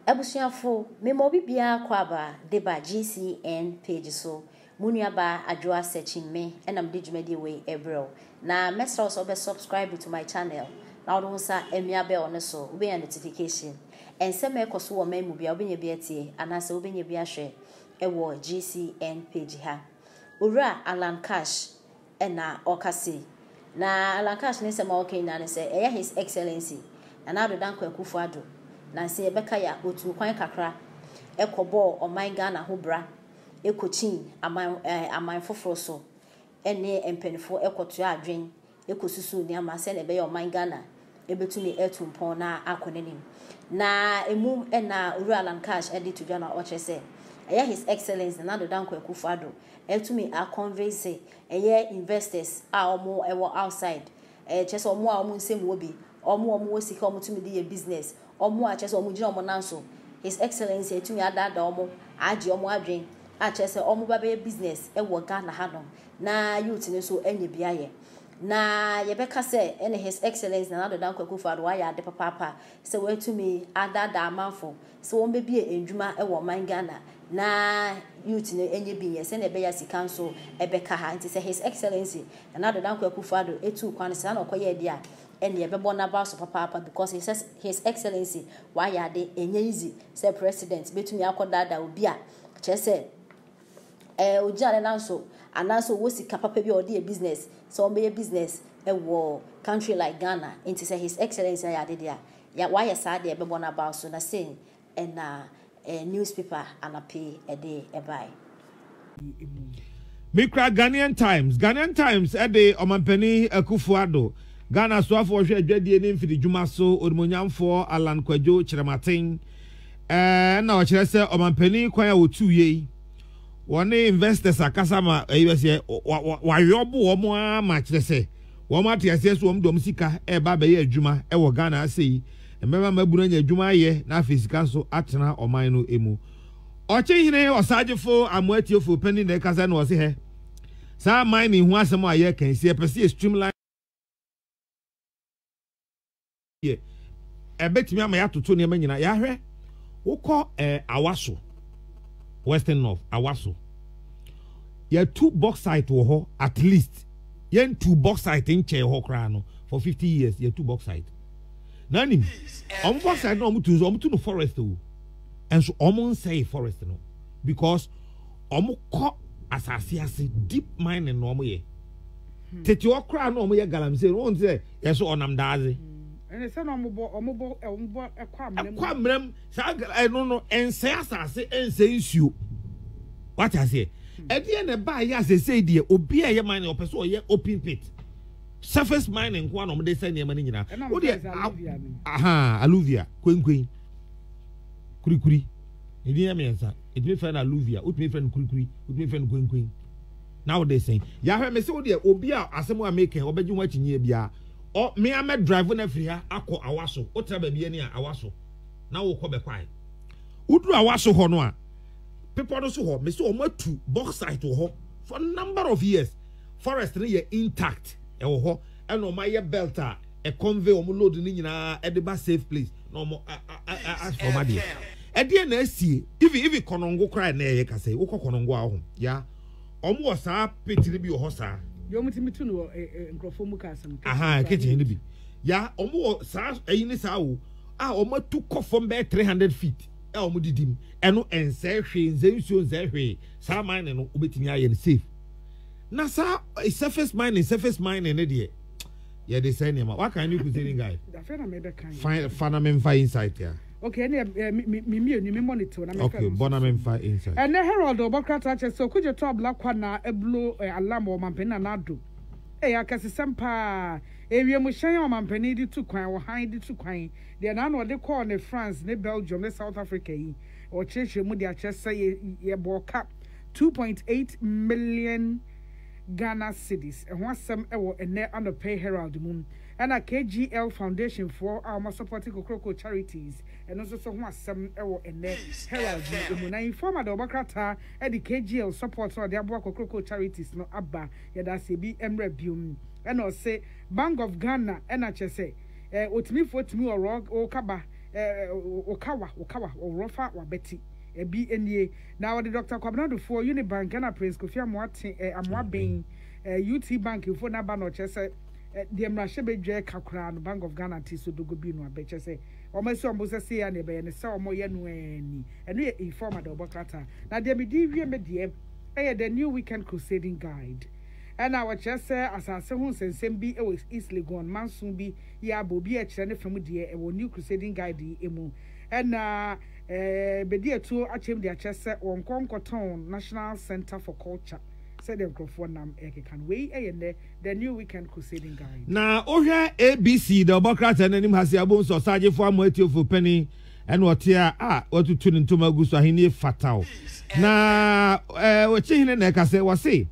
Abusuafo, mema obi biara kɔ aba de ba GCN page so. Mo nuabaa Adwoa Sekyinme na mede dwumadie wei rebrɛ wo. Na mɛsrɛ wo sɛ wobɛ subscribe to my channel na wode wo nsa amia bell no so, wobɛnya notification. Nsɛm a ɛkɔ so wɔ man mu biara wobɛnya bi atie anaasɛ wobɛnya bi ahwɛ wɔ GCN page ha. Owura Alan Cash na ɔka sei. Na Alan Cash ne nsɛm a ɔka nyinaa ne sɛ ɛyɛ His Excellency Nana Addo Dankwa Akufo Addo nansa yi ɛbɛka yɛ a ɔtuu kwan kakra kɔ bɔɔ ɔman Ghana ho bra kɔkyin aman aman foforɔ so ne mpaninfoɔ kɔtoaa adwen ɛkɔsusu nneɛma sɛdeɛ ɛbɛyɛ a ɔman Ghana bɛtumi atu mpɔn na akɔ n'anim. Na ɛmu na Owura Alan Cash de to dwa no a ɔkyerɛ sɛ ɛyɛ His Excellence Nana Addo Dankwa Akufo Addo atumi a convince ɛyɛ investors a wɔwɔ outside, kyerɛ sɛ wɔn a wɔn nsam wɔ bi, wɔn a wɔwɔ sika a wɔtumi de yɛ business, wɔn a kyerɛ sɛ wɔgyina wɔn nan so, His Excellence atumi adaadaa wɔn, agye wɔn adwene a kyerɛ sɛ wɔba bɛyɛ business wɔ Ghana hanom. na youth no nso anya bi ayɛ. Na yɛbɛka sɛ ɛne His Excellence Nana Addo Dankwa Akufo-Addo wayɛ ade papaapa sɛ watumi adaadaa amanfo sɛ wɔmmɛbue nnwuma wɔ ɔman Ghana na youth no anya bi nyɛ sɛnea ɛbɛyɛ a sika nso bɛka ha. Nti sɛ His Excellency Nana Addo Dankwa Akufo-Addo tuu kwan saa na ɔkɔyɛɛ deɛ a, ɛneɛ ɛbɛbɔ n'aba so papaapa because His Ex His Excellency wayɛ ade. Ɛnyɛ easy sɛ President bɛtumi akɔdaadaa obi a kyerɛ sɛ, Ɛ, ogyina ne nan so, anaasɛ ɔwɔ sika papa bi a ɔde yɛ business, sɛ ɔbɛyɛ business wɔ country like Ghana, nti sɛ His Excellency ayɛ ade deɛ a, yɛ, wayɛ saa deɛ ɛbɛbɔ no abaw so, na sei na ɛ, newspaper anapa yi ɛde ɛbae. Me kura Ghanaian Times. Ghanaian Times de Ɔmampanin Akuffo Addo, Ghana Soafoɔ Ɔhwɛ Adwadie ne Mfididwuma so Onimuonyamfoɔ Allan Kwadwo Kyerematen Ɛna ɔkyerɛ sɛ ɔmanpanin kwan a wɔtuu yɛ yi wɔne investors akasa ma ɛyi bɛ sɛ wayɔbo wɔn ara ma kyerɛ sɛ wɔn ate aseɛ so wɔn de wɔn sika ɛreba abɛyɛ adwuma ɛwɔ Ghana ase yi mmɛma mmabunu anya adwuma ayɛ na afei sika nso atena ɔman no emu ɔkyehene ɔsagyefo amoatiefo panyin na ɛkasa na ɔse hɛ saa aman ne ho asɛm a yɛka yi sɛ yɛpɛ sɛ yɛ streamline deɛ ɛbɛtumi ama yɛatoto nneɛma nyinaa yɛahwɛ wokɔ ɛɛ eh, awaso western north awaso yɛtu bauxite wɔ hɔ at least yɛntu bauxite nkyɛn hɔ koraa no for fifty years yɛtu bauxite na anim wɔn bauxite na wɔn tu nso wɔn tu no forest o nso wɔn nsɛe forest no because wɔn kɔ asase ase deep mining na wɔn yɛ tete hɔ koraa na wɔn yɛ galamsey wɔn ti sɛ. Yɛ so ɔnam daadze. Ɛne sɛ na ɔmo bɔ ɔmo bɔ ɔmo bɔ ɛkɔ amena mu. Ɛkɔ amena mu saa ɛno no ɛnsɛe asase ɛnsɛe nsuo wate aseɛ ɛdeɛ na ɛbaa yɛ asɛsɛe deɛ obi a ɛyɛ mining ɔpɛ so ɔyɛ open pit surface mining nko na ɔmo de sɛ nneɛma no nyinaa o deɛ aha aluvia kwenkwen kurikuri ɛdin yɛ mmiɛnsa ɛtumi fɛ no aluvia wotumi fɛ no kurikuri wotumi fɛ no kwenkwen. Na wo de sɛn? Yahwɛ me se wo deɛ obi a asɛm a meka ɔbɛgye ho akyinyie biara ɔ me a mɛ drive no afiri ha akɔ awaso wo tra baabi ani a awaso na wokɔ bɛkwae wo duru awaso hɔ no a bepɔ no so hɔ me se ɔmo atu bauxite wɔ hɔ for number of years forest no yɛ intact ɛwɔ hɔ ɛna ɔmo ayɛ belt a ɛ convey ɔmo load no nyinaa ɛde ba safe place na ɔmo asfɔ ɔmo adeɛ ɛdeɛ na asie ivi ivi kɔnɔngo koraa ɛna ɛyɛ kasɛ wokɔ kɔnɔngo a ɔho yaa Wɔn wɔ saa pit no bi wɔ hɔ saa. Deɛ wɔn ti mi tu no wɔ ɛ eh, ɛ eh, nkurɔfoɔ mu cars no. Aha kitchen no bi. Ya wɔn wɔ saa ɛyi ne saa o a wɔn atu kɔ fam bɛyɛ three hundred feet a wɔn didi mu ɛno ɛnsɛɛ hwee nsɛɛ nsuo nsɛɛ hwee saa mining no wobɛtumi ayɛ no safe na saa eh, surface mining surface mining ne deɛ yɛde sɛ nneɛma waka ne kusini guy fa na memfa insight a Okay, ɛne eh, me mmienu, me monitor na me Okay, bɔ na memfa inside. Ɛnɛ Herald ɔbɔ krataa kyɛ sɛ okugye tɔ abla kwa na ɛblo eh, alarm wɔ ɔmampanin na n'ado. Ɛyɛ akɛsesɛm paa. Ewiem hyɛn a ɔmampanin de tu kwan, ɔhan de tu kwan, deɛ n'ano ɔde kɔɔ ne France ne Belgium ne South Africa yi, ɔkyerɛkyerɛ mu de akyerɛ sɛ yɛ yɛbɔɔ ka two point eight million Ghana cedis. Ɛho asɛm wɔ ɛnɛ anɔpɛ Herald mu. Ɛna KGL Foundation foɔ a wɔasɔpɔte Kokroko Charities no nso so ho asɛm wɔ ɛnnɛ Herald no mu. Na Informa de wɔbɔ krataa de KGL support a wɔde aboa Kokroko Charities no aba. Yɛda ase ebi mmra biom. Ɛna ɔse Bank of Ghana ɛna kyerɛ sɛ eh otimi foɔ timi ɔrɔ wo kaba eh oka wa oka wa ɔrɔ fa wabɛte ɛbi nie. Na ɔde Doctor Kwabena Addo foɔ Unibank ɛna Prince Kofi Amoate eh Amoaben eh UT Bank foɔ no aba na ɔkyerɛ sɛ. deɛ mmarahyɛbadwa ka koraa no Bank of Ghana te so dogo bi no abɛ kyɛ sɛ wɔn asi wɔn bo sɛ sei a na ɛbɛyɛ ne sɛ wɔn yɛ no ɛɛ ni ɛno yɛ informa deɛ wɔbɔ krataa na deɛ me di wie me deɛ ɛyɛ the new weekend crusading guide ɛna wɔkyerɛ sɛ asase ho nsɛnsɛm bi ɛwɔ East Legon manso bi yɛ abɔ obi a ɛkyerɛ ne fa mu deɛ ɛwɔ new crusading guide yi emu ɛna ɛɛ bɛdi atuo akyɛm de akyerɛ sɛ wɔn nkɔ nkɔtɔn national center for culture sɛdeɛ nkurɔfoɔ nam ɛkeka no wei ɛyɛ nnɛ The New Weekend Crusading Guide. Na wohwɛ ABC da ɔbɔ krataa no anim ha se abom sɛ ɔsagyefo ama atiefo panin ɛna ɔte a a watutu ne ntoma agu so ahenni fataw na ɔkye hene na ɛka sɛ wɔse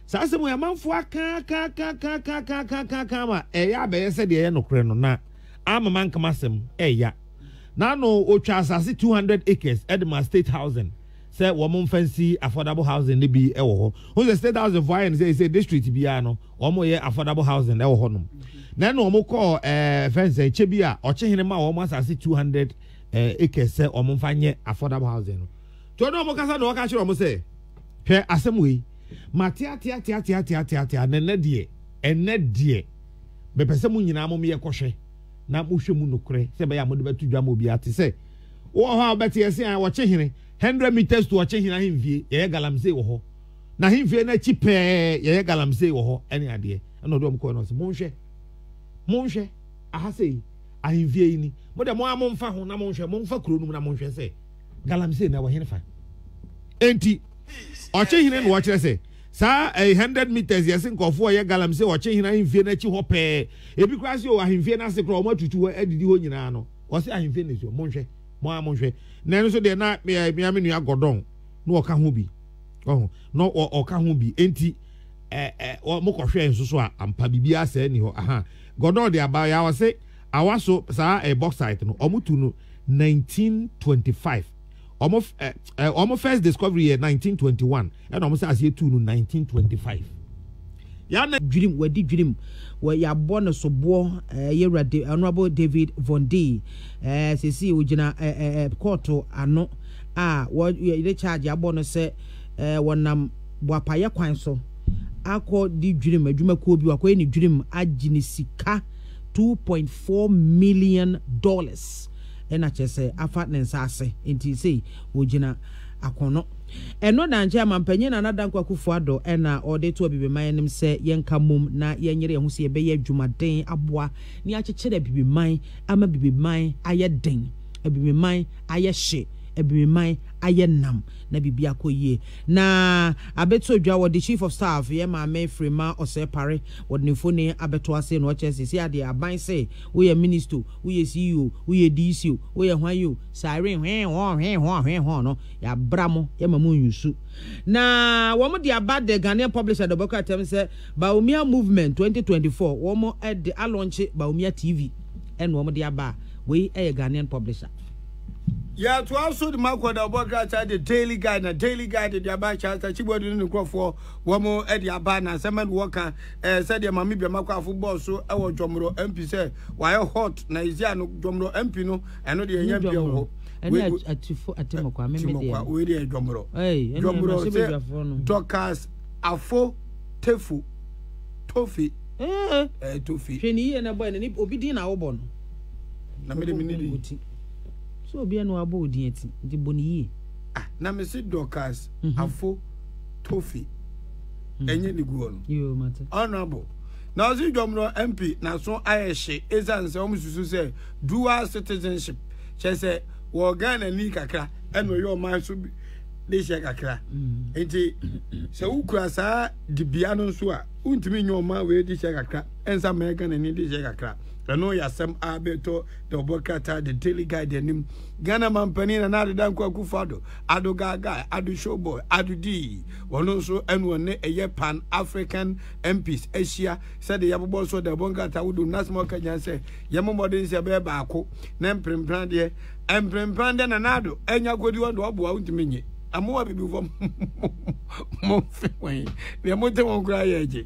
saa asɛm yɛ amanfo akaakaakaakaakaakaaka ma ɛyɛ abɛyɛ sɛ deɛ ɛyɛ nokorɛ no na ama mankama asɛm ɛya na no ɔtwa asase 200 acres ɛde ma state housing sɛ wɔn mfa nsi affordable housing no bi wɔ hɔ ho sɛ state housing fo ayɛ no sɛ sɛ district biara no wɔn yɛ affordable housing wɔ hɔ nom na ɛna wɔn kɔ ɛɛ eh, fɛnsɛ kyɛ bi a ɔkyehene ma wɔn asase two hundred eh, acres sɛ wɔn mfa nyɛ affordable housing no tí ɔno wɔn kasa na ɔka kyerɛ wɔn sɛ hwɛ asɛm wei ma teateateateateateatea na ɛnɛ deɛ ɛnɛ deɛ bɛpɛ sɛ mo nyinaa mo yɛ kɔhwɛ na mohwɛ mu nokorɛ sɛ bɛyɛ a mode bɛto dwa ma obiara te sɛ wowɔ hɔ a wobɛte yɛse a ɔkye hene hundred meters to ɔkye hene ahemfie yɛyɛ galamsey wɔ hɔ na ahemfie no akyi pɛɛ yɛyɛ galamsey wɔ hɔ ɛne adeɛ ɛna ɔde ɔm kɔɛ no ɔse monhwɛ monhwɛ aha sei ahemfie yi ni mo de mo a momfa ho na monhwɛ momfa kuro no mu na monhwɛ sɛ galamsey na ɛwɔ hene fa enti ɔkye hene na ɔkyerɛ sɛ saa ɛyɛ eh, hundred meters yɛse nkurɔfoɔ ɔyɛ galamsey ɔkye hene ahemfie no akyi hɔ pɛɛ ebi koraa se o ahemfie no ase koraa ɔmo atutu hɔ adidi hɔ nyinaa no wɔsi ahemfie na esuo monhwɛ mo a monhwɛ na ɛno nso deɛ na eh, mmea me nua gɔdɔn na ɔka ho bi ɔho na ɔka ho bi enti ɛɛ eh, ɛɛ eh, mo kɔhwɛ nso so a ampa bibi asɛe ni hɔ aha gɔdɔn deɛ aba yɛ awɔ se awa so saa ɛɛ bɔksait no wɔn tu no 1925. wɔn ɛ ɛ wɔn first discovery yɛ 1921 ɛna wɔn sɛ aseɛ tuu no 1925 yana dwirim wadi dwirim wɔ yɛabɔ no soboɔ ɛɛ eh, yɛwura de honourable david von d ɛɛ eh, sisi ogyina ɛɛ eh, ɛɛ kɔɔto ano a wɔde charge abɔ no sɛ ɛɛ wɔnam boapayɛ kwan so akɔ di dwirim adwumakuo bi wakɔyɛ ne dwirim agye ne sika 2.4 million dollars. na kyerɛ sɛ afa ne nsa ase nti sei ɔgyina akono. Ɛno na nkyɛ Mampanyin Nana Dankwa Akufo-Addo na ɔde to Abibiman anim sɛ yɛnka mom na yɛnyere yɛn ho sɛ yɛbɛyɛ adwumaden aboa na yɛakyekyere Abibiman ama Abibiman ayɛ den, Abibiman ayɛ hye, Abibiman ayɛ nam na biribi akɔ yie. Na abɛto dwa wɔde Chief of Staff yɛn Maame Freema Osei Pare wɔde ne mfoni abɛto ase na ɔkyerɛ sɛ seesei adeɛ aban se woyɛ Ministo, woyɛ CEO o, woyɛ DC o, woyɛ hwan o, saa wee hwee hɔɔ hwee hɔɔ hwee hɔɔ no, yɛabra mo, yɛma mo nyusu. Na wɔde aba The Ghanaian Publisher de wɔbɛkɔ atɛm sɛ Bawumia Movement 2024, wɔde alɔnkye Bawumia TV na wɔde aba a, wei yɛ Ghanaian Publisher. Yɛtoa so de mo akɔ da wɔbɔ krataa The Daily Guide na Daily Guide de aba Charles Tachibuadu ne ne nkurɔfoɔ wɔde aba na nsɛm bɛn na wɔka eh, sɛdeɛ Mame Biama Kwafo bɔɔ so wɔ Dwɔmorɔ MP sɛ wayɛ hot na ɛsi ano Dwɔmorɔ MP no ɛno deɛ ɛnyɛ mpeɛ wɔ hɔ. Ɛne atufo atimokwa meme deɛ. Timokwa wei deɛ Dwɔmorɔ. Dwɔmorɔ sɛ Dorcas Afo Tefo Tofe. Eh, Tofe. Hwɛ ne yie na bɔ ɛne obi din na wobɔ no. Na mede me ne din. So obi ɛna wabɔ odin ati nti bɔ ne yie. Ah, na me se Dorcas mhm. Afo Tofe. ɛnyɛ ne guɔ no honorable na ɔse dwom no mp naso ayɛ hye ɛsiane sɛ wɔn susu sɛ dual citizenship kyɛ sɛ wɔ Ghana ni kakra ɛna ɔyɛ ɔman so bi de hyɛ kakra mm. nti sɛ wokura saa dibea no nso a wontumi nyɛ ɔma wei de hyɛ kakra ɛnsa ma ɛka n'ani de hyɛ kakra ɛno yɛ asɛm a bɛtɔ na ɔbɔ krataa de daily guide anim ghana mampanin na na adeda nkɔ akufo ado ado gaga ado showboy ado dii wɔn nso ɛne wɔn ne ɛyɛ pan african mps ahyia sɛdeɛ yɛabobɔ nso de ɛbɔ nkrataa wodo no asɛm a ɔka nyinaa sɛ yɛmmɔ mmɔden sɛ ɛbɛyɛ baako na mprempran deɛ mprempran deɛ nanado anya kɔdi wɔn de wɔboa wontumi nye ɛmoa bibi fam mo mfe wɔn deɛ mote wɔn koraa yɛ agye